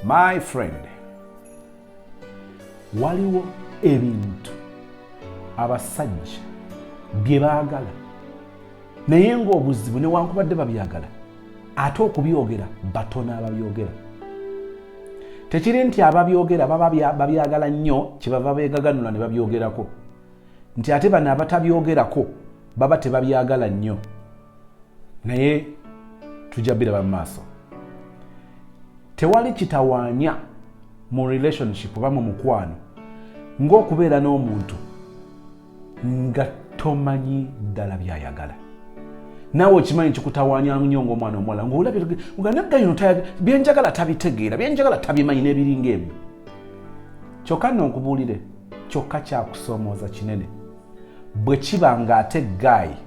My friend, waliwo ebintu abasajja bye baagala naye ng'obuzibu newankubadde babyagala ate okubyogera batono ababyogera tekiri nti ababyogera baba babyagala nnyo kyebava beegaganula ne babyogerako nti ate bano abatabyogerako baba tebabyagala nnyo naye tujja biraba mu maaso tewali kitawaanya mu relationship oba mu mukwano ng'okubeera n'omuntu nga tomanyi ddala byayagala naawe okimanyi kikutawaanya nnyo ngaomwana omuwala ngaolabyenagayino byenjagala tabitegeera byenjagala tabimanyi n'ebiringa ebyo kyokka nno nkubuulire kyokka kyakusoomooza kinene bwe kiba ng'ate gaayi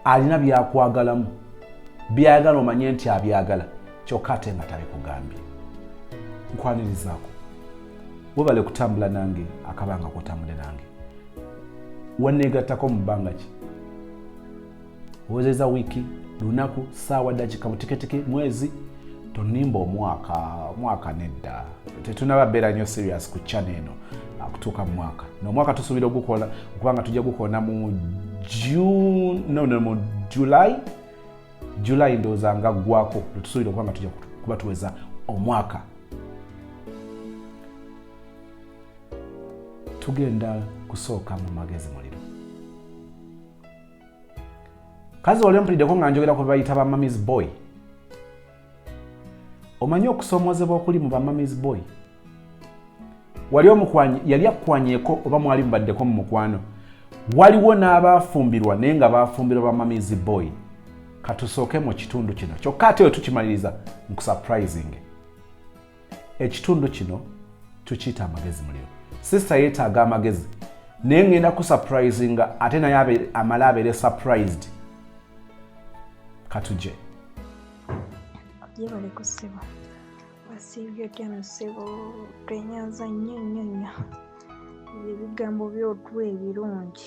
alina byakwagalamu byayagala omanye nti abyagala kyokka ate nga tabikugambye nkwanirizaako webale kutambula nange akabanga kotambule nange waneegattako mu bbanga ki owezeza wiiki lunaku saawa dakika buteketeke mwezi tonimba omwaka omwaka nedda tetunaba beera nyo serious ku chana eno ah, kutuuka mu mwaka nomwaka tusuubira ogukola okubanga tujja gukoona mu june no, no, mu july july ndowooza nga ggwako lwetusuubira okubanga tujja kuba tuweza omwaka tugenda kusooka mu magezi muliro kazi wali ompulideko nga njogera ku bebayita ba mamis boy omanyi okusomozebwa okuli mu ba mamis boy wali omukwanyi yali akukwanyeko oba mwali mubaddeko mu mukwano waliwo n'abaafumbirwa naye nga baafumbirwa ba mamis boy katusooke mu kitundu kino kyokka ate we tukimaliriza nkusurprising ekitundu kino tukiyita amagezi muliro sisita yeetaaga amagezi naye ngenda kusapulizinga ate naye amale abeere surprised katuje yebale ku ssebo wasiibye otya no ssebo twenyanza nnyo nnyo nnyo ebigambo byotwa ebirungi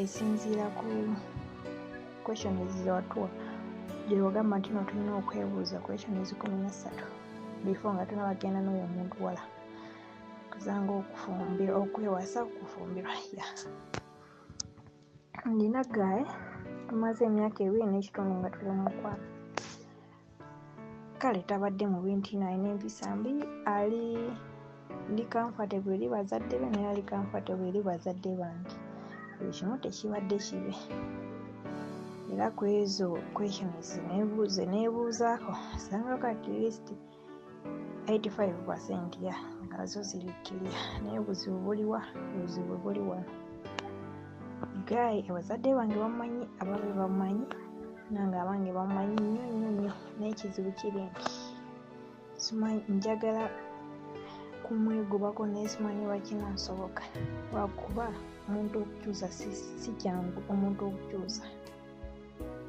esinziira ku question zizewatuwa gyewagamba nti no tulina okwebuuza question ezikumi nessatu before nga tunabagenda n'oyo omuntu wala kuzanga okufumbira okwewasa okufumbirwa ya ndina gaye tumaze emyaka ebiri n'ekitundu nga tuli mukwano kale tabadde mu bintu ino alina empisa mbi ali ndi comfortable eri bazadde be naye ali comfortable eri bazadde bange buli kimu tekibadde kibe era ku ezo questions nebuuze nebuuzaako osangako at least 85 percent ya nazo ziri kiriya naye obuzibu buliwa obuzibu buli wano guy abazadde bange bamanyi ababe bamanyi nange abange bamanyi nnyo nnyo nnyo naye ekizibu kiri nti simanyi njagala kumwegobako naye simanyi lwakina nsoboka lwakuba omuntu okukyusa si kyangu omuntu okukyusa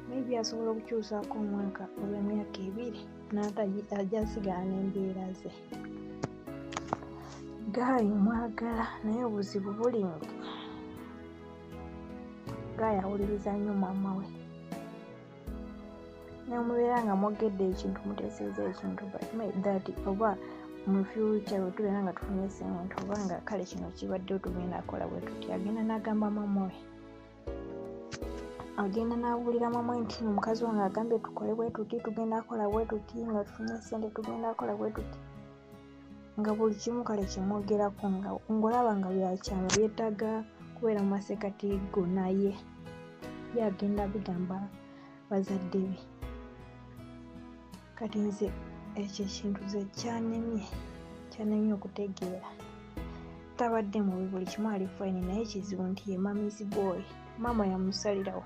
maybe asobola okukyusaako omwaka oba emyaka ebiri naata ajasigala n'embeera ze gaayi mwagala naye obuzibu buli nti gaayi awuliriza nnyo maama we nemubeera nga mwogedde ekintu muteeseeza ekintu that oba mu future wetubeera nga tufunye sente oba nga kale kino kibadde otugenda akola bwe tuti agenda n'agamba maama we agenda n'abuulira mamwe nti omukazi wange agambye tukole bwe tuti tugenda kola bwe tuti nga tufunye sente tugenda kola bwe tuti nga buli kimu kale kyemwogerako nga ngolaba nga byakyama byetaaga kubeera mu maseekati go naye ye agenda bigamba bazadde be kati nze ekyo ekintu ze kyanemye kyanemye okutegeera tabadde mubi buli kimu ali fine naye ekizibu nti ye mamizi boy maama yamusalirawo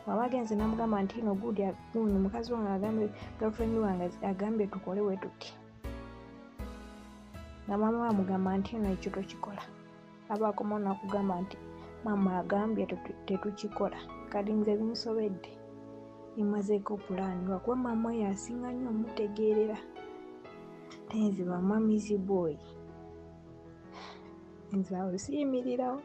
waba agenze namugamba nti no good guno mukazi wange agambye girlfriend wange agambye tukole wetuti nga maama wamugamba nti no ekyo tokikola abaakoma nakugamba nti maama agambye tetukikola kati nze binsobedde emazeeko pulaani lwakuba maama oyo asinga nnyo omutegeerera tenzi bamamizi bwoyi nze awo siyimirirawo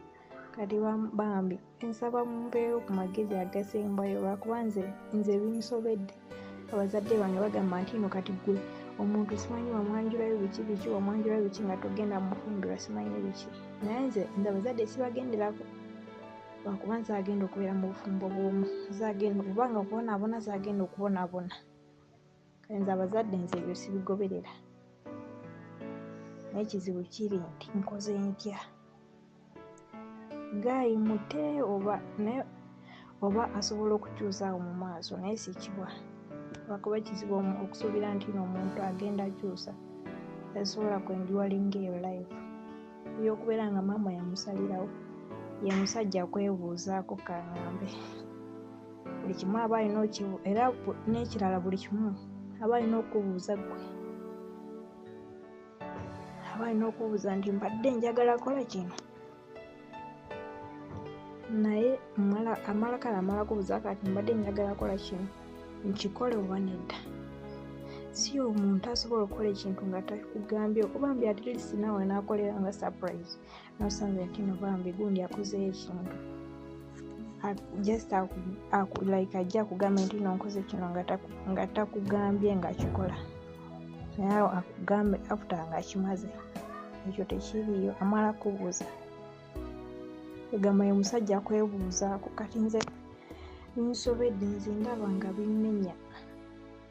kati bambi nsaba mumpeewo ku magezi agasembayo lwakuba nze nze binsobedde abazadde bange bagamba nti no kati gwe omuntu simanyi wamwanjulayo biki biki wamwanjulayo biki nga togenda mufumbirwa simanyi biki naye nze nze abazadde sibagenderako lwakuba nze agenda okubeera mu bufumbo bwomu zagenda okubanga okubonaabona zagenda okubonaabona nze abazadde nze ebyo sibigoberera naye ekizibu kiri nti nkoze ntya gaayi mute oba naye oba asobola okukyusa awo mu maaso naye sikibwa lwakuba ekizibu okusuubira nti no omuntu agenda akyusa esobola kwenjuwalinga eyo life eyokubeera nga maama yamusalirawo ye musajja kwebuuzaako kangambe buli kimu aba alina okibu era n'ekirala buli kimu aba alina okubuuza gwe aba alina okubuuza nti mbadde njagala kola kino naye amala kale amala kubuuza kati mbadde njagala kola kino nkikole oba nedda si omuntu asobola okukola ekintu nga takugambye okuba mbi atlist naawe naakolera nga surprise nosanze kino bambi gundi akozeyo ekintu just like ajja kugamba nti nonkoze kino nga takugambye nga kikola naye akugambe after nga akimaze ekyo tekiriyo amala kubuuza egamba ye musajja kwebuuzaako kati nze binsobedde nze ndaba nga bimmenya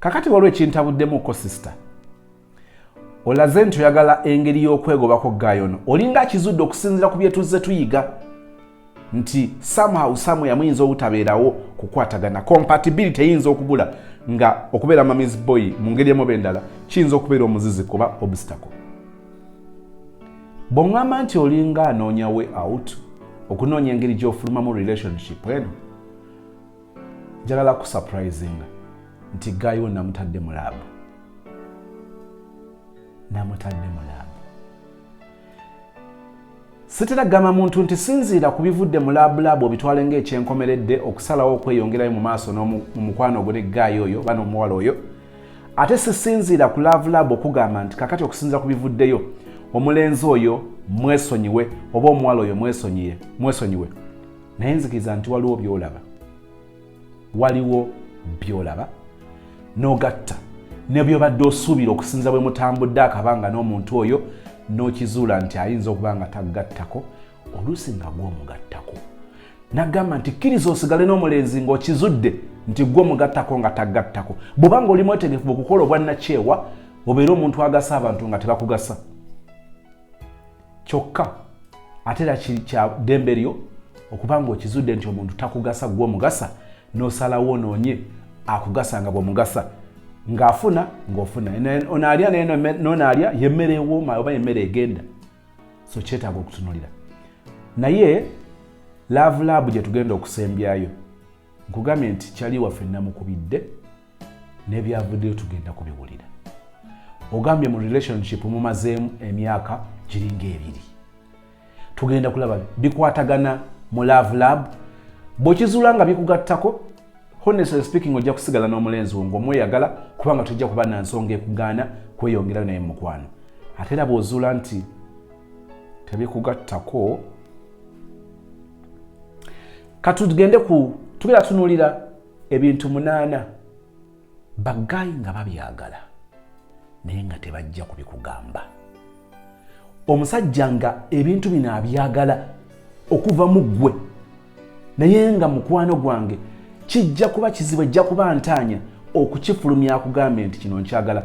kakati waliwo ekintabuddemu ko sisita olaze nti oyagala engeri y'okwegobako gaayo ono olinga akizudde okusinzira ku byetuzze tuyiga nti somehow somewhere muyinza obutabeerawo kukwatagana compatibility eyinza okubula nga okubeera mamis boy mu ngeri emuba endala kiyinza okubeera omuzizi kuba obstacle bweŋŋamba nti olinga anoonya way out okunoonya engeri gy'ofulumamu relationship eno njalala ku surprising nti guy wo namutadde mu lab namutadde mu lab sitera gamba muntu nti sinziira ku bivudde mu labulab obitwale ngaekyenkomeredde okusalawo okweyongerayo mu maaso nomukwano ogwo ne guy oyo bana omuwala oyo ate sisinziira ku lavulab okugamba nti kakati okusinzira ku bivuddeyo omulenzi oyo mwesonyiwe oba omuwala oyo mwesonyiwe naye nzikiriza nti waliwo byolaba waliwo byolaba n'ogatta ne byobadde osuubira okusinza bwe mutambudde akabanga n'omuntu oyo n'okizuula nti ayinza okuba nga taggattako oluusi nga gwomugattako nagamba nti kkiriza osigale n'omulenzi ng'okizudde nti gwe omugattako nga taggattako bw'oba nga oli mwetegefu okukola obwannakyewa obeere omuntu agasa abantu nga tebakugasa kyokka ate era kya ddembe lyo okuba ng'okizudde nti omuntu takugasa gwe omugasa n'osalawo onoonye akugasa nga bw'omugasa ng'afuna ng'ofuna onaalya n'onaalya yemmere ewooma oba yemmere egenda so kyetaaga okutunulira naye laavu laabu gye tugenda okusembyayo nkugambye nti kyali waffe namukubidde nebyavuddeyo tugenda kubiwulira ogambye mu relationship mumazeemu emyaka giringa ebiri tugenda kulaba bikwatagana mu love lab bwekizuula nga bikugattako honestly speaking ojja kusigala n'omulenzi wo ngaomweyagala kubanga tojja kuba na nsonga ekugaana kweyongerayo naye mukwano ate era bwozuula nti tebikugattako katugende ku tugera tunuulira ebintu munaana bagaayi nga babyagala naye nga tebajja kubikugamba omusajja nga ebintu bino abyagala okuva mu ggwe naye nga mukwano gwange kijja kuba kizibu ejja kuba ntaanya okukifulumya akugambe nti kino nkyagala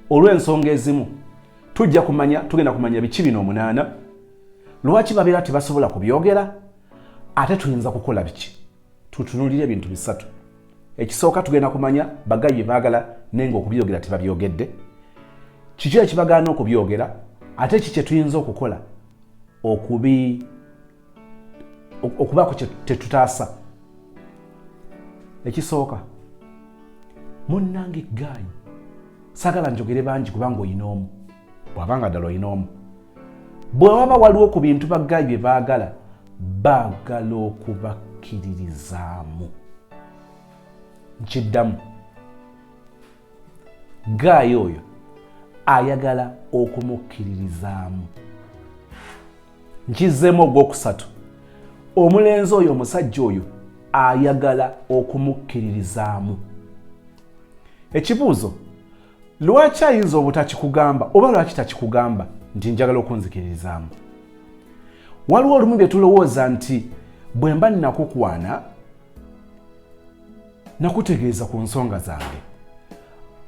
olw'ensonga ezimu tujja kumanya tugenda kumanya biki bino omunaana lwaki babeera tebasobola kubyogera ate tuyinza kukola biki tutunulire ebintu bisatu ekisooka tugenda kumanya bagayi bye baagala naye nga okubyogera tebabyogedde kiki ekibagaana okubyogera ate ki kyetuyinza okukola okubi okubaako kyetutaasa ekisooka munnange gaayi sagala njogere bangi kubanga olina omu bwaba nga ddala olina omu bwe waba waliwo ku bintu baggayi bye baagala baagala okubakkiririzaamu nkiddamu gaayi oyo ayagala okumukkiririzaamu nkizzeemu ogwokusatu omulenzi oyo omusajja oyo ayagala okumukkiririzaamu ekibuuzo Lwaki ayinza obutakikugamba oba lwaki takikugamba nti njagala okunzikiririzaamu? Waliwo olumu bye tulowooza nti bwe mba nakukwana nakutegeeza ku nsonga zange.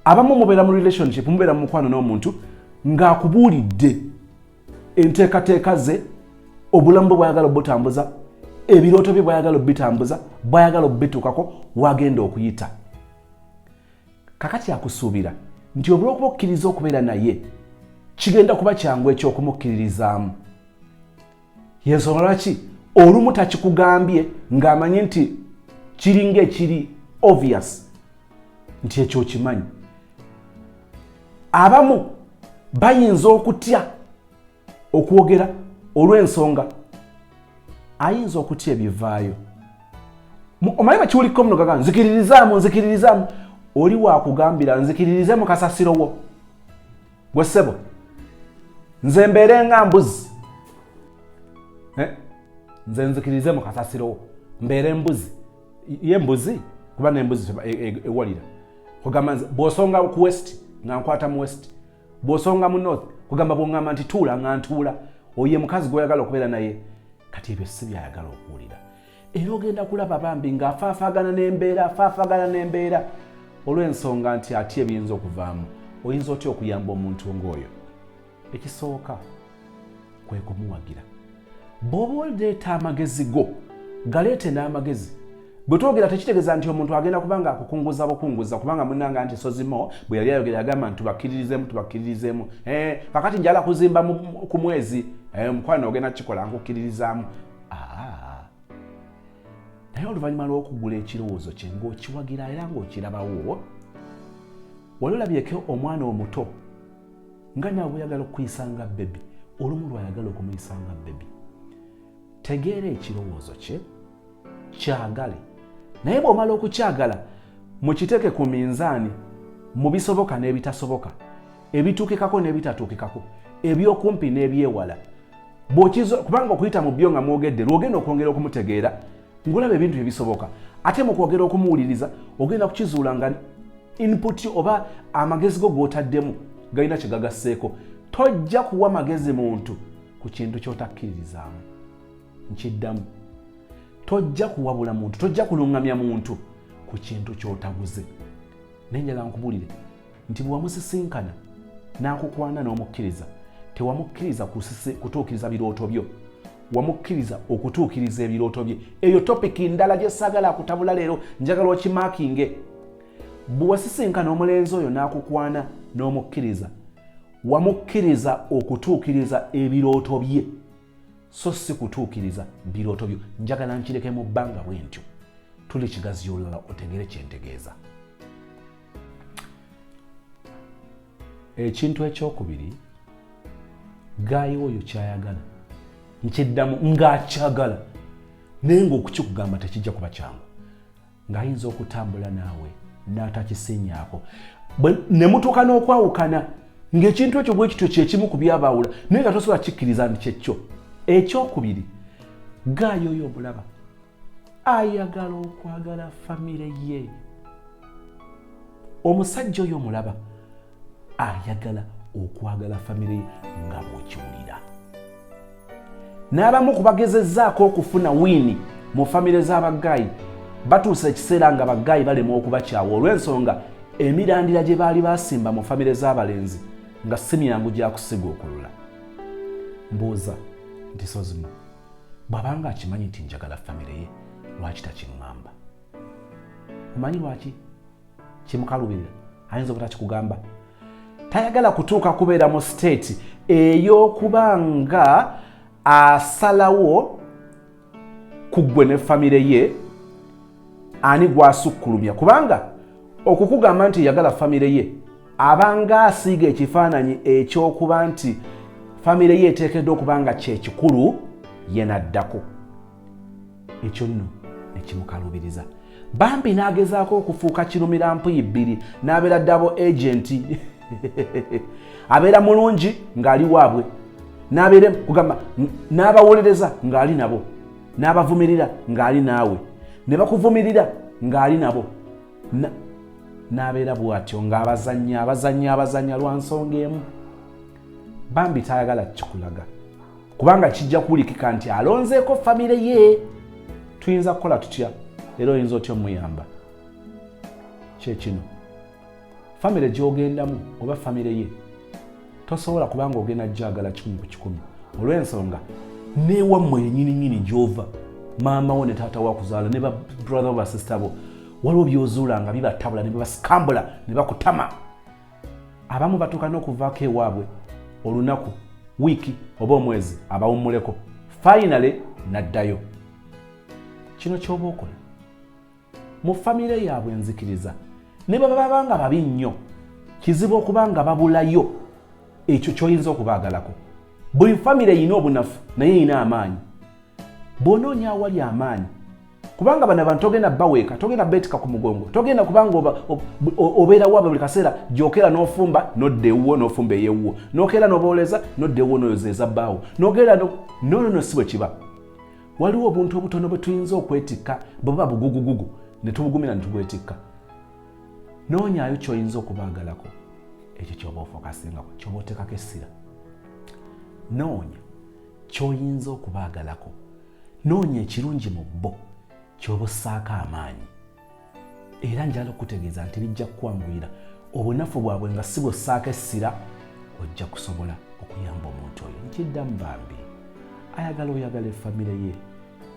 Abamu mubeera mu relationship, mubeera mu mukwano n'omuntu ng'akubuulidde enteekateeka ze, obulamu bwe bwayagala obutambuza, ebirooto bye bwayagala obitambuza, bwayagala obituukako, wagenda okuyita. kakati akusuubira nti olw'okuba okkiriza okubeera naye kigenda kuba kyangu eky'okumukkiririzaamu yensonga lwaki olumu takikugambye ng'amanyi nti kiringa ekiri obvious nti ekyo okimanyi abamu bayinza okutya okwogera olw'ensonga ayinza okutya ebivaayo omanyi bakiwulikko muno gaga nzikiririzaamu nzikiririzaamu oli wakugambira nzikiririze mu kasasiro wo gwe ssebo nze mbeere nga mbuzi eh? nze nzikiririze mu kasasiro wo mbeere mbuzi ye mbuzi kuba nembuzi e, e, ewalira kugamba nze bwosonga ku west nga nkwata mu west bwosonga mu north kugamba bwongamba nti tuula nga ntuula oye mukazi gwoyagala okubeera naye kati ebyo si byayagala okuwulira era ogenda kulaba bambi ng'afaafagana n'embeera afaafagana n'embeera olw'ensonga nti atya ebiyinza okuvaamu oyinza otya okuyamba omuntu ng'oyo ekisooka kwe kumuwagira bw'oba oleeta amagezi go galeete n'amagezi bwe twogera tekitegeeza nti omuntu agenda kuba nga akukunguza bukunguza kubanga munanga nti sozimo bwe yali ayogera yagamba nti tubakkiririzemu tubakkiririzemu eh, kakati njala kuzimba ku mwezi eh, omukwano ogenda kukikola nkukkiririzaamu ah. naye oluvannyuma lw'okugula ekirowoozo kye ng'okiwagira era ng'okirabawo wali olabyeko omwana omuto nga naawe oyagala okukuyisa nga bebi olumu lwayagala okumuyisa nga bebi tegeera ekirowoozo kye kyagale naye bw'omala okukyagala mukiteeke ku minzaani mu bisoboka n'ebitasoboka ebituukikako n'ebitatuukikako ebyokumpi n'ebyewala kubanga okuyita mu byo nga mwogedde lwogenda okwongera okumutegeera ng'olaba ebintu ebisoboka ate mu kwogera okumuwuliriza ogenda kukizuula nga input oba amagezi go g'otaddemu galina kye gagasseeko tojja kuwa magezi muntu ku kintu ky'otakkiririzaamu nkiddamu tojja kuwabula muntu tojja kuluŋŋamya muntu ku kintu ky'otaguze naye njala nkubuulire nti bwe wamusisinkana n'akukwana n'omukkiriza tewamukkiriza kutuukiriza birooto byo wamukkiriza okutuukiriza ebirooto bye eyo topiki ndala gyesagala akutabula leero njagala okimakinge bwe wasisinkana omulenzi oyo n'akukwana n'omukkiriza wamukkiriza okutuukiriza ebirooto bye so si kutuukiriza birooto byo njagala nkireke mu bbanga bwe ntyo tuli kigazi yolala otegere kyentegeeza ekintu ekyokubiri gaayi oyo kyayagala nkiddamu ng'akyagala naye ngaokukikugamba tekijja kuba kyangu ng'ayinza okutambula naawe n'atakisinyaako ne mutuuka n'okwawukana ng'ekintu ekyo bwe kityo kyekimu ku byabaawula naye nga tosobola kikkiriza nti kyekyo ekyokubiri gaayi oyo omulaba ayagala okwagala famire ye omusajja oyo omulaba ayagala okwagala famire ye nga bwokiwulira n'abamu ku bagezezaako okufuna wiini mu famire z'abagaayi batuusa ekiseera nga bagaayi balemwa okubakyawa olw'ensonga emirandira gye baali basimba mu famire z'abalenzi nga si myangu gya kusiga okulula mbuuza nti sozimo bw'abanga akimanyi nti njagala famire ye lwaki takiŋŋamba omanyi lwaki kimukalubirira ayinza obuta kikugamba tayagala kutuuka kubeera mu siteeti ey'okuba nga asalawo ku ggwe ne famire ye ani gwasukkulumya kubanga okukugamba nti yagala famire ye abanga asiiga ekifaananyi ekyokuba nti famire ye eteekeddwa okuba nga kyekikulu yenaddako ekyo nno nekimukalubiriza bambi n'agezaako okufuuka kirumira mpuyi bbiri n'abeera ddabo agenti abeera mulungi ng'ali waabwe n'abeera kugamba n'abawolereza ng'ali nabo n'abavumirira ng'ali naawe ne bakuvumirira ng'ali nabo n'abeera bw'atyo ng'abazannya abazannya abazannya lwa nsonga emu bambi tayagala kukikulaga kubanga kijja kuwulikika nti alonzeeko famire ye tuyinza kukola tutya era oyinza otya omuyamba kyekino famire gyogendamu oba famire ye tosobola kubanga ogenda jagala kikumi ku kikumi olw'ensonga newammwe yenyininyini gyova maama wo ne taata wakuzaala ne babrother basista bo waliwo byozuula nga bibatabula ne bibasikambula ne bakutama abamu batuuka n'okuvaako ewaabwe olunaku wiiki oba omwezi abawummuleko fayinale n'addayo kino ky'oba okola mu famire yaabwe enzikiriza ne bwe baba nga babi nnyo kizibu okuba nga babulayo ekyo ky'oyinza okubaagalako buli famire erina obunafu naye erina amaanyi bw'onoonya awali amaanyi kubanga bano abantu togenda baweeka togenda beetika ku mugongo togenda kubanga obeerawo abo buli kaseera gyokera n'ofumba nodda ewuwo n'ofumba eyewuwo nokeera nobooleza nodda ewuwo noyoza eza bbaawo nogenda nonono si bwe kiba waliwo obuntu obutono bwe tuyinza okwetikka bwe buba bugugugugu ne tubugumira ne tubwetikka noonyayo kyoyinza okubaagalako ekyo kyoba ofokasingako kyoba oteekako essira noonya kyoyinza okubaagalako noonya ekirungi mu bo kyoba ossaako amaanyi era njala okutegeeza nti bijja kukwanguyira obunafu bwabwe nga si bwossaako essira ojja kusobola okuyamba omuntu oyo nkiddamu bambi ayagala oyagala efamire ye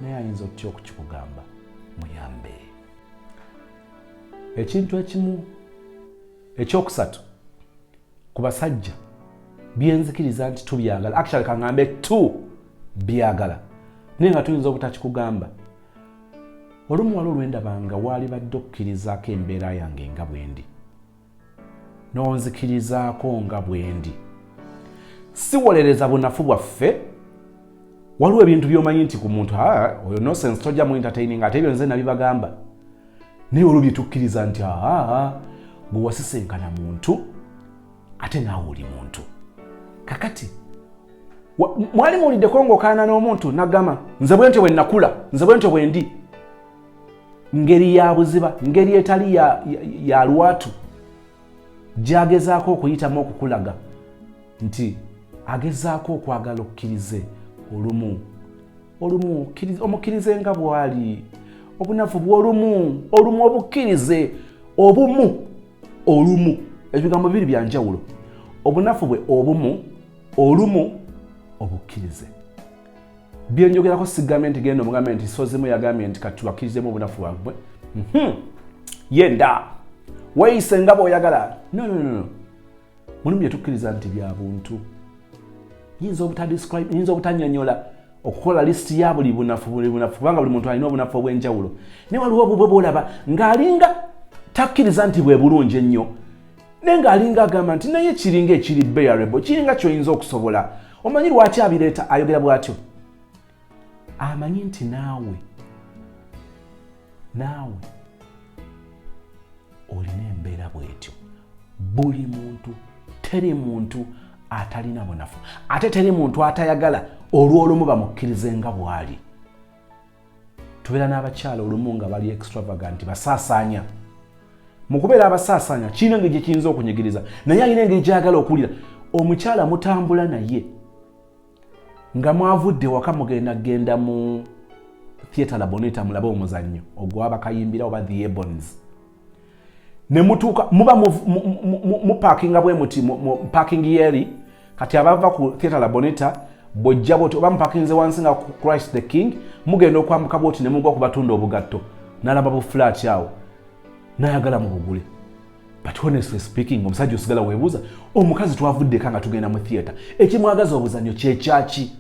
naye ayinza otya okukikugamba muyambe ekintu ekimu ekyokusatu ku basajja byenzikiriza nti tubyagala actually kangambe tu byagala naye nga tuyinza obutakikugamba olumu wali olwendabanga waali badde okukkirizaako embeera yange nga bwendi n'onzikirizaako nga bwendi siwolereza bunafu bwaffe waliwo ebintu byomanyi nti ku muntu oyo nosense tojja mu entertaining ate ebyo nze nabibagamba naye olwo byetukkiriza nti aa gwe wasisenkana muntu ate naawe oli muntu kakati mwali muwuliddeko ngaokaana n'omuntu nagamba nze bwentyo bwe nakula nze bwentyo bwendi ngeri ya buziba ngeri etali ya lwatu gyagezaako okuyitamu okukulaga nti agezaako okwagala okkirize olumu olumu omukkirize nga bwali obunafu bwolumu olumu obukkirize obumu olumu ebigambo bibiri byanjawulo obunafu bwe obumu olumu obukkirize byenjogerako sigambye nti genda omugambe nti sozimu yagambye nti kati tubakirizemu obunafu bwabwe mhm. yenda weyise nga bwoyagala nonono mulimu byetukkiriza nti bya buntu yinza obutadescribe yinza obutanyonyola okukola lisiti ya buli bunafu buli bunafu kubanga buli muntu alina obunafu obw'enjawulo naye waliwo obubwe bwolaba ng'alinga takkiriza nti bwe bulungi ennyo naye ng'alinga agamba nti naye kiringa ekiri bearable kiringa kyoyinza okusobola omanyi lwaki abireeta ayogera bw'atyo amanyi nti naawe naawe olina embeera bw'etyo buli muntu teri muntu atalina bunafu ate teri muntu atayagala olw'olumu bamukkirize nga bw'ali tubeera n'abakyala olumu nga bali extravagant basaasaanya mu kubeera abasaasaanya kirina engeri gye kiyinza okunyigiriza naye alina engeri gyayagala okuwulira omukyala mutambula naye nga mwavudde waka mugenda genda mu theatre laboneta mulabe omuzannyo ogwabakayimbira oba the ebons ne mutuuka muba mupakinga bwe muti mupaking yeri kati abava ku theatre la boneta bwojja bwoti oba mupakinze wansi nga christ the king mugenda okwambuka bwoti ne mugwa ku batunda obugatto nalaba bu flat awo nayagala mu bugule but honestly speaking omusajja osigala webuuza omukazi twavuddeka nga tugenda mu theatre ekimwagaza obuzanyo kyekyaki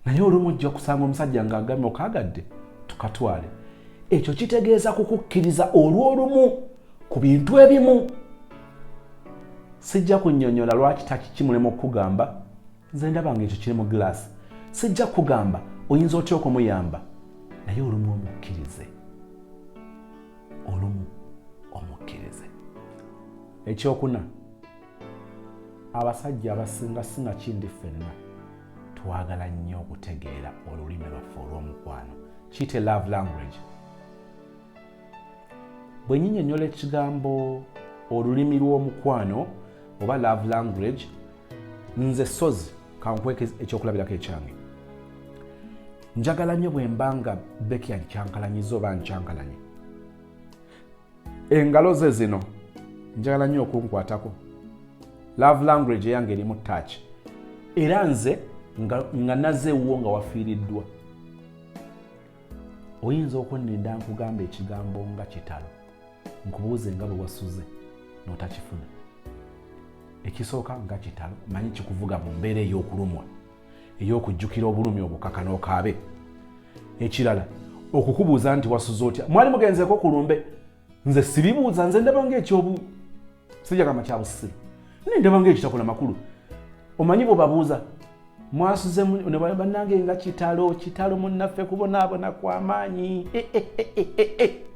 naye olumu ojja kusanga omusajja ng'agambye okaagadde tukatwale ekyo kitegeeza kukukkiriza olw'olumu ku bintu ebimu sijja kunyonyola lwaki takikimulemu okukugamba nze ndaba nga ekyo kiri mu giraasi sijja kugamba oyinza otya okumuyamba naye olumu omukkirize olumu omukkirize ekyokuna abasajja abasinga singa kindi ffenna twagala nnyo okutegeera olulimi lwaffe olw'omukwano kiyite love language bwe nyinyonyola ekigambo olulimi lw'omukwano oba love language nze sozi kankweka ekyokulabirako ekyange njagala nnyo bwe mba nga bekian kyankalanyiza oba nkyankalanye engalo ze zino njagala nnyo okunkwatako love language eyange erimu touch era nze nga, nga naze ewuwo nga wafiiriddwa oyinza okunninda nkugamba ekigambo nga kitalo nkubuuze nga bwe wasuze n'otakifuna ekisooka nga kitalo manyi kikuvuga mu mbeera ey'okulumwa ey'okujjukira obulumi obukaka n'okaabe ekirala okukubuuza nti wasuze otya mwali mugenzeeko ku lumbe nze sibibuuza nze ndaba ngaekyobu sijagamba kya busiru naye ndaba ngaekitakola makulu omanyi bwebabuuza mwasuze banange nga kitalo kitalo munnaffe kubonaabona kwamaanyi eh, eh,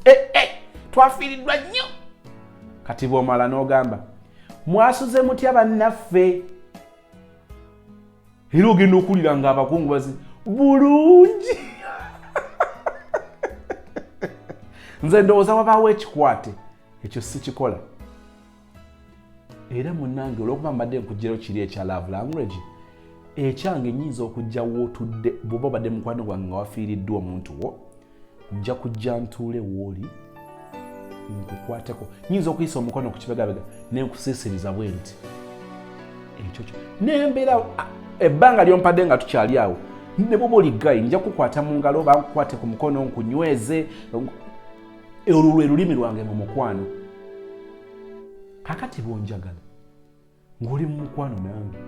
eh, twafiiriddwa nnyo kati bwomala n'ogamba mwasuze mutya bannaffe era ogenda okuwulira nga abakungubazi bulungi nze ndowooza wabaawo ekikwate ekyo sikikola era munange olwokuba mbadde nkugirayo kiri ekya love language ekyange nyinza okujja wootudde bwoba obadde mukwano gwange nga wafiiriddwa omuntu wo nja kujja ntuule wooli nkukwateko nyinza okuyisa omukono ku kibegabega nenkusiisiriza bwe nti ekyo kyo nembeera ebbanga lyompadde nga tukyali awo ne bwoba oli gayi nja kukwata mu ngalo oba nkukwate ku mukono nkunyweze olwo lwe lulimi lwange mu mukwano kakati bwonjagala ng'oli mu mukwano nange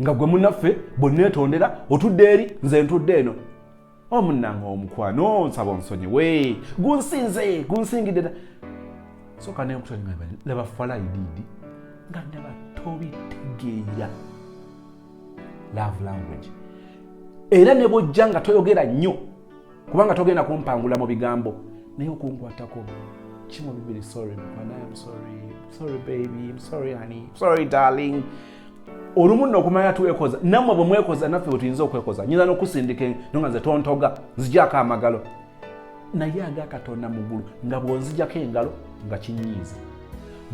nga gwe munaffe bwe neetondera otudde eri nze ntudde eno omunanga omukwano nsaba onsonyiwe gunsinze gunsingidde da soka nenkutonaa laba falaididi nga ndaba tobitegeera love language era ne bwojja nga toyogera nnyo kubanga togenda kumpangula mu bigambo naye okunkwatako kimu bibiri sorry mukwana am sorry sorry baby am sorry honey sorry darling olumu nno okumanya twekoza nammwe bwe mwekoza naffe bwe tuyinza okwekoza nyinza n'okusindika nonga nze tontoga nzijako amagalo naye aga katonda mu ggulu nga bw'onzijako engalo nga kinyiiza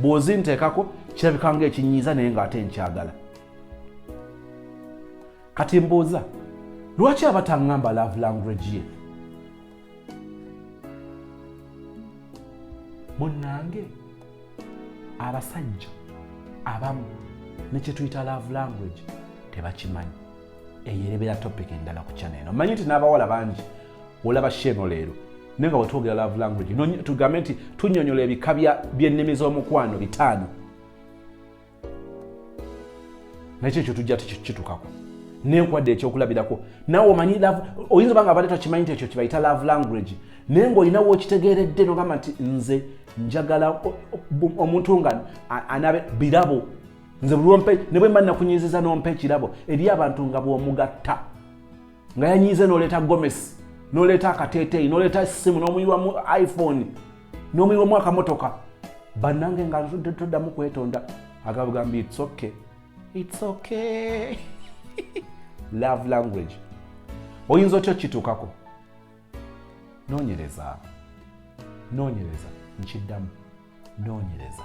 bw'ozinteekako kirabika nga ekinyiiza naye ng'ate nkyagala kati mbuuza lwaki abatangamba love language ye munange abasajja abamu nekyetuyita love language tebakimanyi eyerebera topic endala ku chana eno manyi nti n'abawala bangi olaba sheeno leero naye nga wetwogera love language tugambe nti tunyonyola ebika byennimi z'omukwano bitaano nakyo ekyo tujja tukitukako nenkwadde ekyokulabirako nawe omanyi oyinza obanga abadde takimanyi nti ekyo kibayita love language naye ngaolinawo okitegeeredde nogamba nti nze njagala omuntu nga anabe birabo nze bulwompe ne bwemba nakunyiziza nompa ekirabo eri abantu nga bwomugatta nga yanyiize noleeta gomesi noleeta akateeteeyi noleeta essimu nomuyiwamu iphone n'omuyiwa omwaka motoka bannange nga nzudde toddamu kwetonda agabugamba its okay its okay love language oyinza otya okukituukako noonyereza noonyereza nkiddamu noonyereza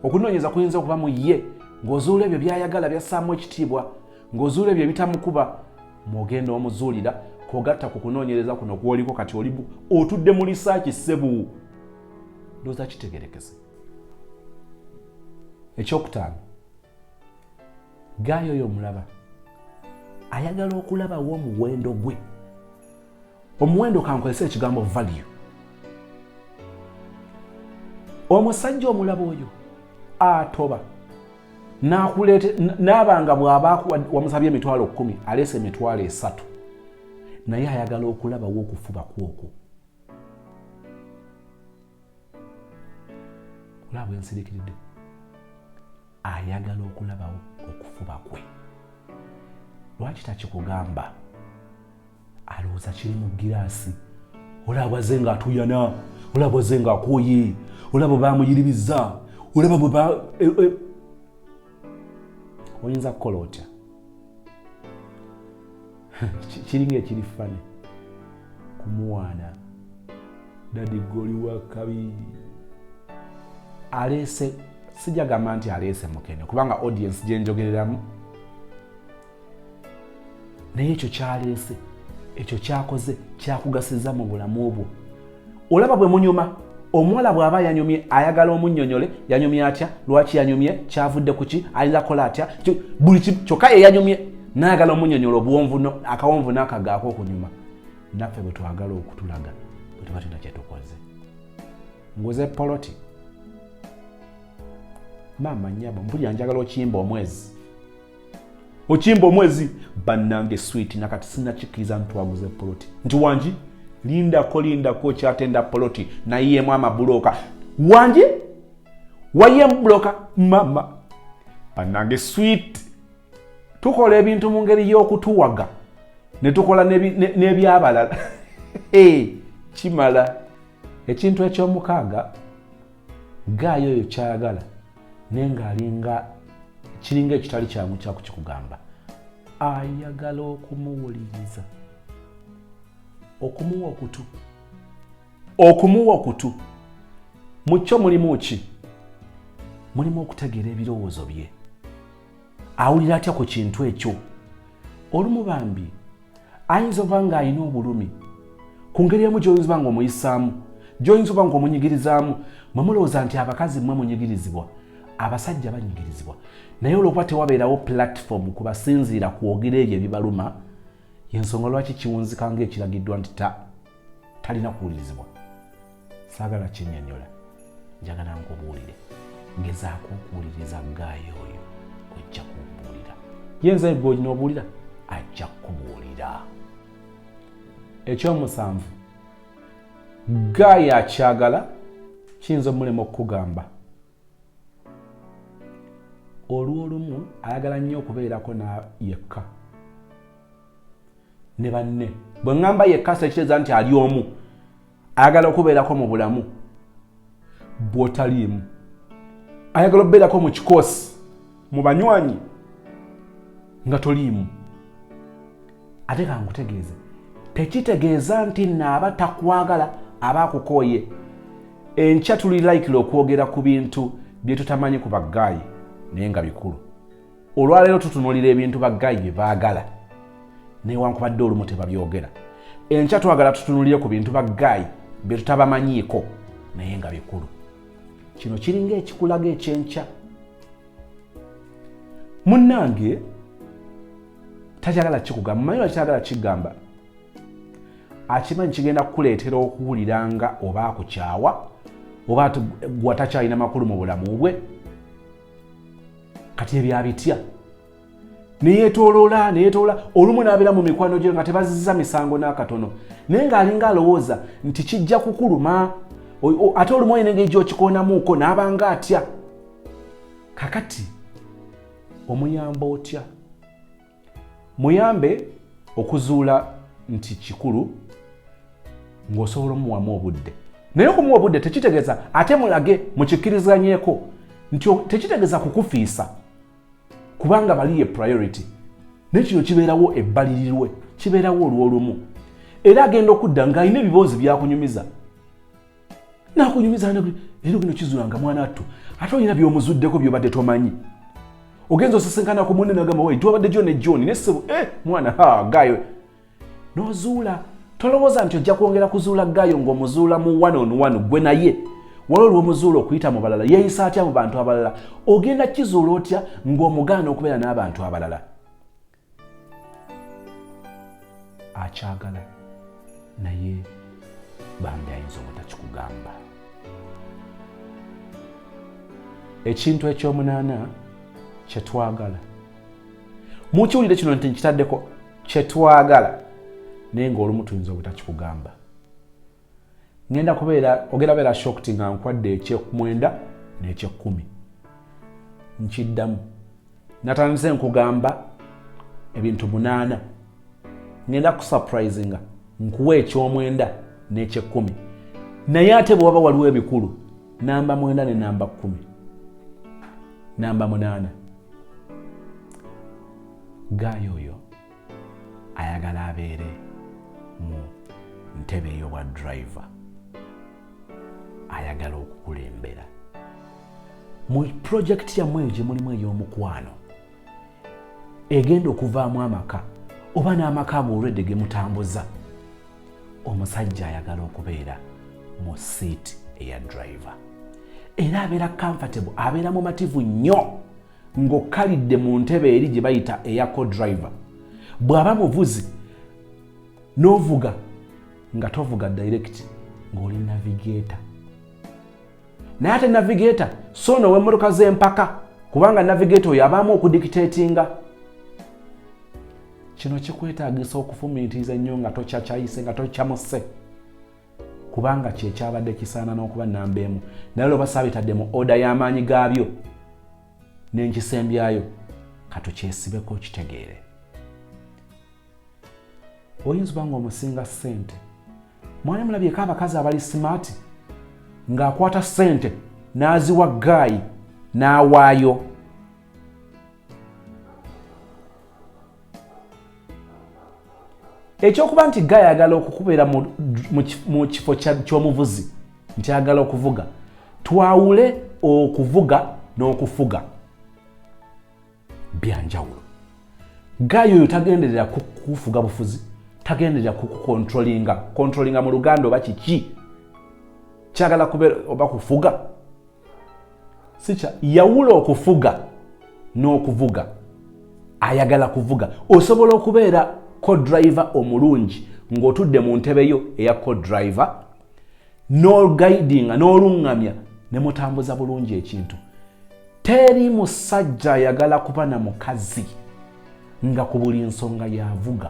okunoonyeza kuyinza okuba mu ye ng'ozuula ebyo by'ayagala byassaamu ekitiibwa ng'ozuula ebyo ebitamukuba mwogenda omuzuulira kogatta ku kunoonyereza kuno kwoliko kati oli otudde mu lisaaki ssebu ndooza kitegerekese ekyokutaano gaayo oyo omulaba ayagala okulabawo omuwendo gwe omuwendo kankozesa ekigambo value omusajja omulaba oyo atoba n'abanga bw'aba wamusabye emitwalo kkumi aleese emitwalo esatu naye ayagala okulabawo okufuba kwokwo olaba bwensirikiridde ayagala okulabawo okufuba kwe lwaki takikugamba alowooza kiri mu giraasi olaba bwaze nga atuyana olaba bwaze nga akooye olaba bamuyiribiza olaba bwe ba e, e. oyinza kukola otya kiringa ekiri fane kumuwaana dadi goli wa kabi aleese sijagamba nti aleese mukene kubanga audiensi gyenjogereramu naye ekyo kyaleese ekyo kyakoze kyakugasiza mu bulamu obwo olaba bwe munyuma omuwala bw'aba yanyumye ayagala omunyonyole yanyumye atya lwaki yanyumye kyavudde ku ki ayinza kola atya buli kyokka ye yanyumye nayagala omunyonyola obuwonvu akawonvu n'akagaako okunyuma naffe bwe twagala okutulaga bwe tuba tulina kyetukoze nguze poloti maama nyabo mpulira njagala okiyimba omwezi okimba omwezi bannange switi nakati sinakikiriza ntwaguze poloti nti wangi lindako lindako okyatenda poloti nayiyemu amabuloka wangi wayiyemu buloka mama bannange swit tukola ebintu mu ngeri y'okutuwaga ne tukola n'ebyabalala kimala ekintu ekyomukaaga gaayo oyo kyayagala naye ng'alinga kiringa ekitali kyangu kyakukikugamba ayagala okumuwuliriza okumuwa okutu okumuwa okutu mu kyo mulimu ki mulimu okutegeera ebirowoozo bye awulira atya ku kintu ekyo olumu bambi ayinza oba nga alina obulumi ku ngeri emu gyoyinza oba nga omuyisaamu gyoyinza oba nga omunyigirizaamu mwe mulowooza nti abakazi mwe munyigirizibwa abasajja banyigirizibwa naye olwokuba tewabeerawo platform ku basinziira kwogera ebyo ebibaluma yensonga lwaki kiwunzika ngaekiragiddwa nti talina kuwulirizibwa saagala kinyonyola njagala nkubuulire ngezaako okuwuliriza gaayo oyo ojja kumbuulira yenza egwe olina obuulira ajja kukubuulira ekyomusanvu gaayo akyagala kiyinza omulema okukugamba olwolumu ayagala nnyo okubeerako yekka ne banne bwe ŋŋamba yekka sekiteeza nti ali omu ayagala okubeerako mu bulamu bwotaliimu ayagala okubeerako mu kikoosi mu banywanyi nga toliimu ate kankutegeeze tekitegeeza nti naaba takwagala aba akukooye enkya tuli likile okwogera ku bintu byetutamanyi ku bagaayi naye nga bikulu olwaleero tutunulira ebintu baggayi bye baagala newankubadde olumu tebabyogera enkya twagala tutunulire ku bintu baggayi bye tutabamanyiiko naye nga bikulu kino kiringa ekikulaga ekyenkya munnange takyagala kikugamba mumanyi wakyagala kigamba akimanyi kigenda kukuleetera okuwulira nga oba akukyawa oba gwa takyalina makulu mu bulamu bwe kati ebyo abitya neyetoloola neyetoloola olumu n'abeera mu mikwano gyo nga tebazizza misango n'akatono naye ng'alinga alowooza nti kijja kukuluma ate olumu olina engeri gyokikoonamuuko n'abanga atya kakati omuyamba otya muyambe okuzuula nti kikulu ng'osobola omuwamu obudde naye okumuwa obudde tekitegeeza ate mulage mukikkirizanyeko nti tekitegeeza kukufiisa kubanga bali ye priority naye kino kibeerawo ebbalirirwe kibeerawo olw'olumu era agenda okudda ng'alina ebiboozi byakunyumiza nakunyumiza ne lero bino kizula nga mwana attu ate olina byomuzuddeko byobadde tomanyi ogenza osisinkana ku munne nagamba wai twabadde jo ne john ne ssebo eh mwana ha gayo nozuula tolowooza nti ojja kwongera kuzuula gayo ng'omuzuula mu one on one gwe naye wala olwomuzuula okuyita mu balala yeeyisa atya mu bantu abalala ogenda kizuula otya ng'omugaana okubeera n'abantu abalala akyagala naye bambi ayinza obutakikugamba ekintu ekyomunaana kyetwagala mukiwulire kino nti nkitaddeko kyetwagala naye ngaolumu tuyinza obutakikugamba ngenda kubeera ogenda beera shocked nga nkwadde ekyekumwenda n'ekyekkumi nkiddamu natandise nkugamba ebintu munaana ngenda kusurprisinga nkuwa ekyomwenda n'ekyekkumi naye ate bwewaba waliwo ebikulu namba mwenda ne namba kkumi namba munaana gaayo oyo ayagala abeere mu ntebe ey'obwa driver ayagala okukulembera mu pulojekiti yammwe eyo gye mulimu ey'omukwano egenda okuvaamu amaka oba n'amaka ago olwedde ge mutambuza omusajja ayagala okubeera mu siiti eya driver era abeera comfortable abeera mumativu nnyo ng'okkalidde mu ntebe eri gye bayita eya codriver bw'aba muvuzi n'ovuga nga tovuga direct ng'oli navigator naye ate navigator so no w'emmotoka z'empaka kubanga navigator oyo abaamu okudikitetinga kino kikwetagisa okufumiitiriza ennyo nga tokyacayise nga tokyamuse kubanga kyekyabadde kisaana n'okuba namba emu naye lwoba saabitadde mu oda y'amaanyi gaabyo n'enkisembyayo katukyesibeko kitegeere oyinza oba nga omusinga ssente mwali mulabyeko abakazi abali simaati ng'akwata ssente n'aziwa gaayi n'awaayo ekyokuba nti ga yagala okukubeera mu kifo ky'omuvuzi nti ayagala okuvuga twawule okuvuga n'okufuga byanjawulo gayo oyo tagenderera kufuga bufuzi tagenderera kukukontrolinga kontrolinga mu luganda oba kiki kyagala kubeera oba kufuga sikya yawula okufuga n'okuvuga ayagala kuvuga osobola okubeera codriver omulungi ng'otudde mu ntebe yo eya codriver n'ogaidinga n'oluŋŋamya ne mutambuza bulungi ekintu teri musajja ayagala kuba na mukazi nga ku buli nsonga yavuga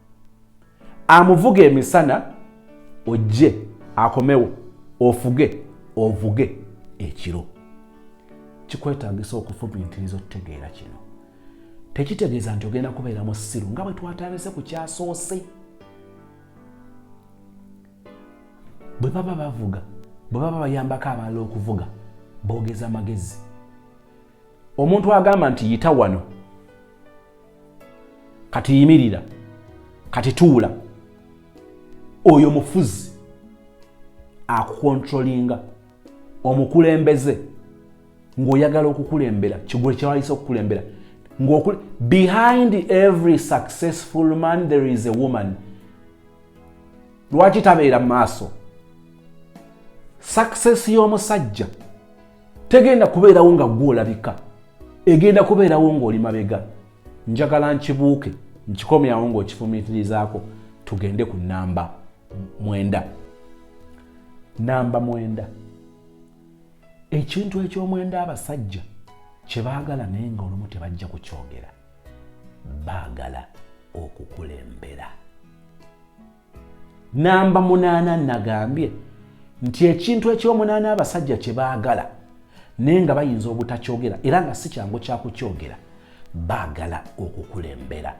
amuvuga emisana ojje akomewo ofuge ovuge ekiro kikwetagisa okufumintiriza okutegeera kino tekitegeeza nti ogenda kubeera musiru nga bwe twatandise ku kyasoose bwe baba bavuga bwe baba bayambako abalala okuvuga boogeza magezi omuntu agamba nti yita wano kati yimirira kati tuula oyo mufuzi akukontrolinga omukulembeze ng'oyagala okukulembera kigwe kyewayise okukulembera behind every successful man there is a woman lwaki tabeera mu maaso success y'omusajja tegenda kubeerawo nga gwe olabika egenda kubeerawo ng'oli mabega njagala nkibuuke nkikomyawo ng'okifumiitirizaako tugende ku namba mwenda namba mwenda ekintu eky'omwenda abasajja kye baagala naye nga olumu tebajja kukyogera baagala okukulembera namba munaana nagambye nti ekintu ekyomunaana abasajja kye baagala naye nga bayinza obutakyogera era nga si kyangu kyakukyogera baagala okukulembera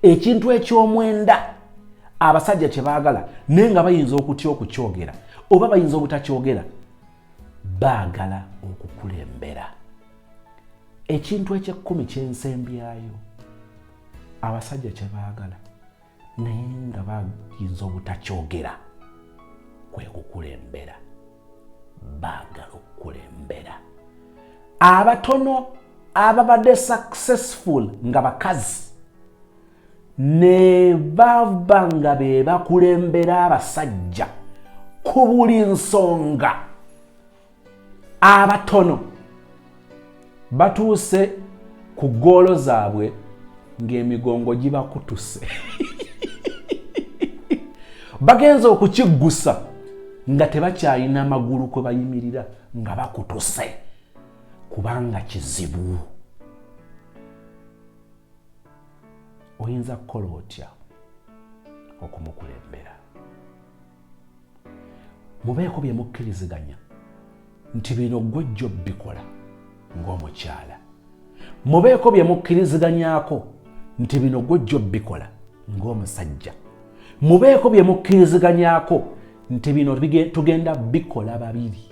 ekintu ekyomwenda abasajja kye baagala naye nga bayinza okutya okukyogera oba bayinza obutakyogera baagala okukulembera ekintu ekyekkumi kyensembyayo abasajja kye baagala naye nga bayinza obutakyogera kwe kukulembera baagala okukulembera abatono ababadde successful nga bakazi ne bava nga be bakulembera abasajja ku buli nsonga abatono batuuse ku ggoolo zaabwe ng'emigongo gibakutuse bagenza okukiggusa nga tebakyalina magulu kwe bayimirira nga bakutuse kubanga kizibu oyinza kukola otya okumukulembera mubeeko bye mukkiriziganya nti bino ggwe jjo bikola ng'omukyala mubeeko bye mukkiriziganyako nti bino ggwe jjo bikola ng'omusajja mubeeko bye mukkiriziganyako nti bino tugenda bikola babiri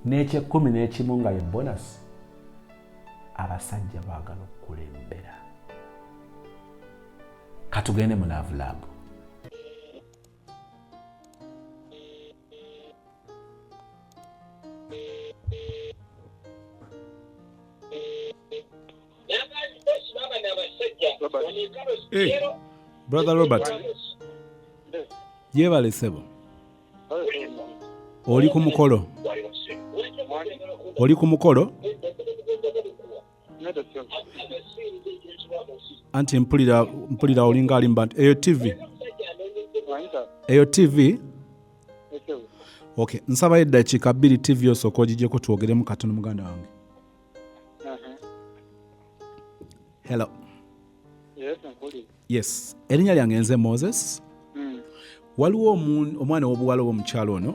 n'ekyekkumi n'ekimu nga ye bonasi abasajja baagala okukulembera katugende mu love lab Hey, brother Robert yebale sebo oli ku mukolo oli ku mukolo anti mpulira mpulira olinga alimba nti eyo tv eyo tv ok nsabayo eddakiika bbiri tv osooka ogigyeko twogeremu katono muganda wange uh-huh. hello yes erinnya lyange nze moses hmm. waliwo omwana w'obuwala oba omukyalo ono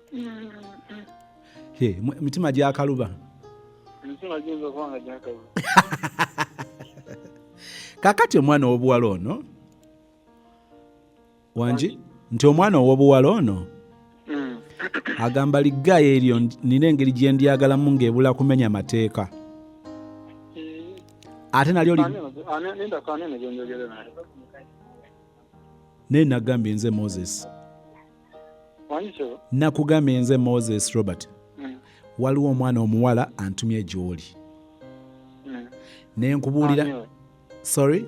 Hey, mu- emitima gyakaluba emitima giyinza okuba nga gyakaluba kakati omwana owobuwala ono wangi nti omwana owobuwala ono Mm. agamba liggaya eryo ndi- nina engeri gye ndyagalamu ng'ebula kumenya mateeka ate nalyo li- Ani ono- ani- ninda ku ani ono gyenjogere naye naye nagambye nze moses nakugambye nze moses robert mm. waliwo omwana omuwala antumye gyoli mm. nenkubuulira sorry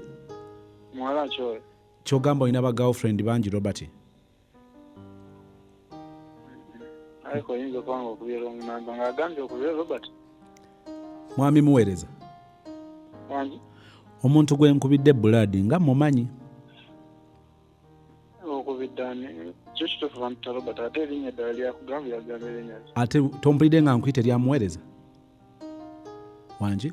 kyogamba olina ba girlfriend bangi robert mwami muweereza omuntu gwenkubidde bulaadi nga mumanyi ate tompulidde nga nkuyita eryamuweereza wangi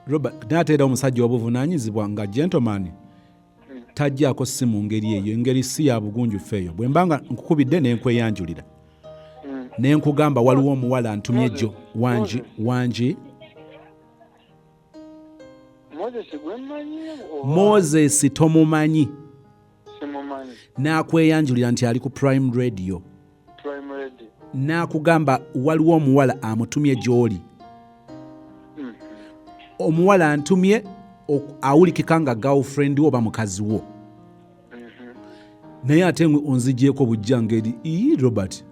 robert nateera omusajja obuvunanyizibwa nga gentleman tajjaako si mu ngeri eyo engeri si ya bugunjufu eyo bwe mba nga nkukubidde ne nkweyanjulira mm. ne nkugamba waliwo omuwala ntumye gyo wangi wangi moses tomumanyi n'akweyanjulira nti ali ku prime radio n'akugamba waliwo omuwala amutumye gy'oli hmm. omuwala antumye awulikika nga girlfriend wo oba mukazi wo mm-hmm. naye ate ngwe onzigyeko bujja ngeri ii robert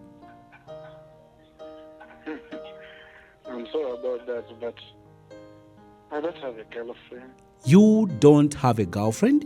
you don't have a girlfriend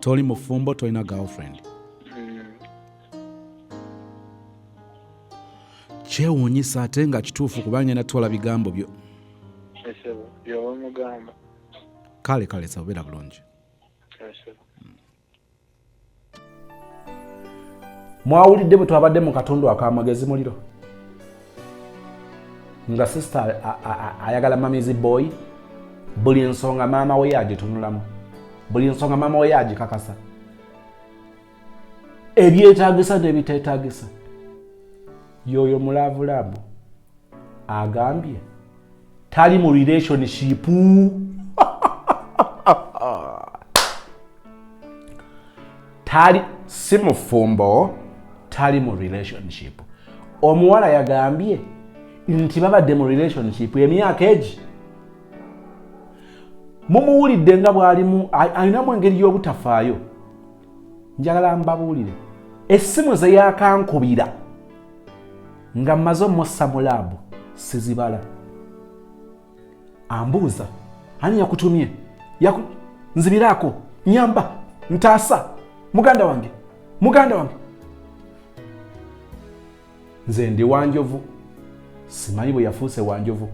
toli mufumbo tolina girlfriend mm. kyewuunyisa ate nga kituufu kuba ngenda twala bigambo byo kale kale sabubeera bulungi mwawulidde bwe twabadde mu katundu akamagezi muliro nga sisita ayagala mamizi boy buli nsonga maama we yagitunulamu buli nsonga maama we yagikakasa ebyetagisa nebitetagisa yoyo mulaavulaabu agambye tali mu relationship tali si mufumbo tali mu relationship omuwala yagambye nti babadde mu relationship emyaka egi mumuwulidde nga bwalimu alinamu engeri y'obutafaayo njagala mbabuulire essimu ze yakankubira nga mmaze omussa mu laabu sizibala ambuuza ani yakutumye yaku... nzibiraako nyamba ntaasa muganda wange muganda wange nze ndi wanjovu simanyi bwe yafuuse wanjovu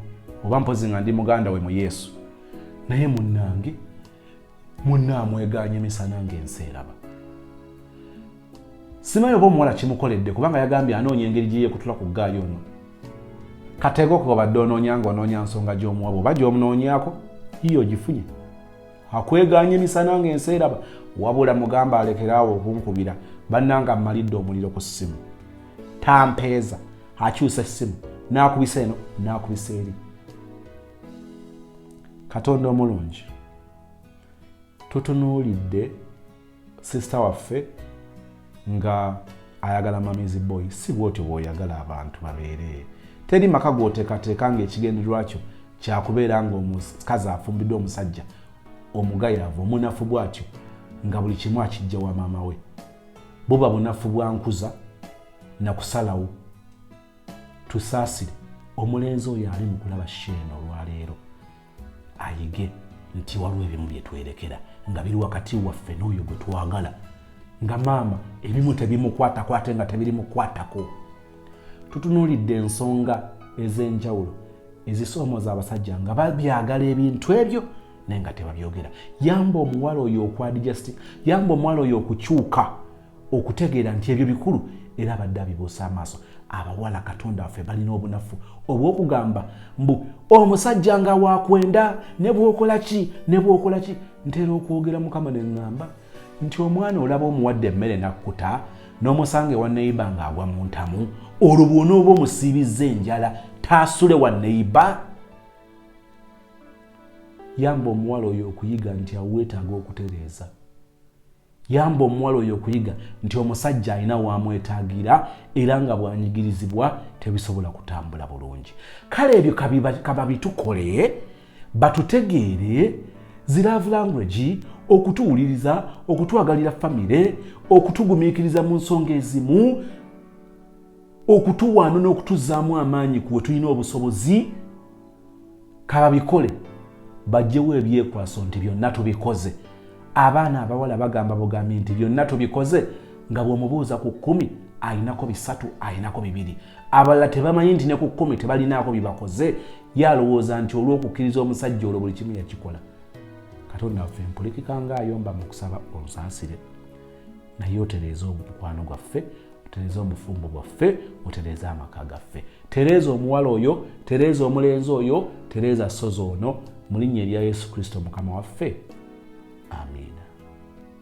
oba mpozi nga ndi muganda we mu yesu naye munnange munna amweganye misana ng'ensi eraba simayi oba omuwala kimukoledde kubanga yagambye anoonya engeri gye yeekutula ku ggaayi ono kateeka okuba badde onoonya ng'onoonya nsonga gy'omuwa bwoba gy'omunoonyaako yiyo ogifunye akweganye emisana ng'ensi eraba wabula mugamba alekeraawo okunkubira bannanga mmalidde omuliro ku ssimu tampeeza akyusa essimu n'akubisa eno n'akubisa eri katonda omulungi tutunuulidde sisita waffe nga ayagala mamizi boy si bwotyo bwoyagala abantu babeere teri maka gotekateeka ngaekigendererwa kyo kyakubeera ngaomukazi afumbiddwa omusajja omugayaavu omunafu bwatyo nga buli kimu akijja wa maama we buba bunafu bwankuza nakusalawo tusaasire omulenzi oyo ali mu kulaba sheena olwaleero ayige nti waliwo ebimu bye twerekera nga biri wakati waffe n'oyo gwe twagala nga maama ebimu tebimukwatako ate nga tebirimukwatako tutunuulidde ensonga ez'enjawulo ezisoomooza abasajja nga babyagala ebintu ebyo naye nga tebabyogera yamba omuwala oyo okwadijasti yamba omuwala oyo okukyuka okutegeera nti ebyo bikulu era abadde abibuusa amaaso abawala katonda waffe balina obunafu obwokugamba mbu omusajja nga wakwenda nebwokolaki nebwokolaki ntera okwogera mukama neŋŋamba nti omwana olaba omuwadde emmere nakkuta n'omusanga ewa neyiba ng'agwa mu ntamu olwo bwona oba omusiibizza enjala taasule wa neyiba yamba omuwala oyo okuyiga nti aweetaaga okutereeza Yamba omuwala oyo okuyiga nti omusajja alina waamwetaagira era nga bwanyigirizibwa tebisobola kutambula bulungi. Kale ebyo kababitukole batutegeere ziraavu language okutuwuliriza okutwagalira famire okutugumiikiriza mu nsonga ezimu okutuwaana n'okutuzaamu amaanyi kuwe tulina obusobozi kababikole bajjewo ebyekwaso nti byonna tubikoze abaana abawala bagamba bugambi nti byonna tubikoze nga bwomubuuza ku kumi ayinako bisatu ayinako bibiri abalala tebamanyi nti ne ku kumi tebalinaako byebakoze yalowooza nti olwokukkiriza omusajja olwo buli kimu yakikola katonda waffe mpulikika nga ayomba mu kusaba onsasire naye otereeze omukwano gwaffe otereeze obufumbo bwaffe otereeze amaka gaffe tereeza omuwala oyo tereeza omulenzi oyo tereeza sozi ono mu linnya erya yesu kristo mukama waffe amiina